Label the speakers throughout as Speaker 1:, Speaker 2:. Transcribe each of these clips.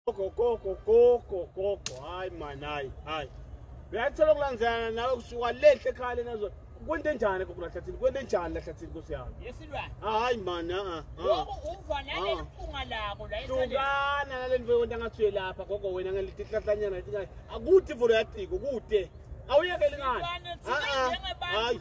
Speaker 1: Gogo gogo gogo gogo hayi man hayi hayi. Uyathola ukulandzana nawe kusuka lehle ekhaya lena zona. Kwente njani gogo lahlathini? Kwente njani lahlathini Nkosi yami? Yesilwane. Hayi
Speaker 2: man a a. Lokho uva nale mpunga lako la esaleni. Tukana
Speaker 1: nale nto wena ngathi uyelapha gogo wena ngalitihlahlanyana leti. Akuthi vulo yaciko kude. Awuyekeli ngani?
Speaker 2: Hayi.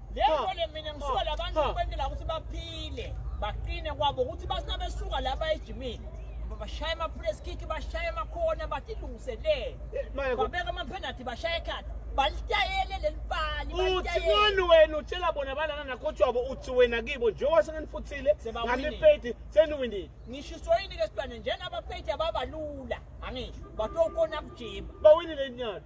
Speaker 1: lento le
Speaker 2: mina ngisuka labantu ukwentela ukuthi baphile baqine kwabo ukuthi basina besuka lapha ejimini bashaye ama-press kick bashaye amakhona batilungiselele babeka amaphenathi bashaye ekhathi balitayele leli pali uthi ngani wena
Speaker 1: utshela bona balana nakhotshi wabo uthi wena kibo njengoba sengenifuthile ngamipeti seniwindile ngishiswa yini ke
Speaker 2: sibane njenabapeti ababalula angisho batokona kujima bawinile inyalo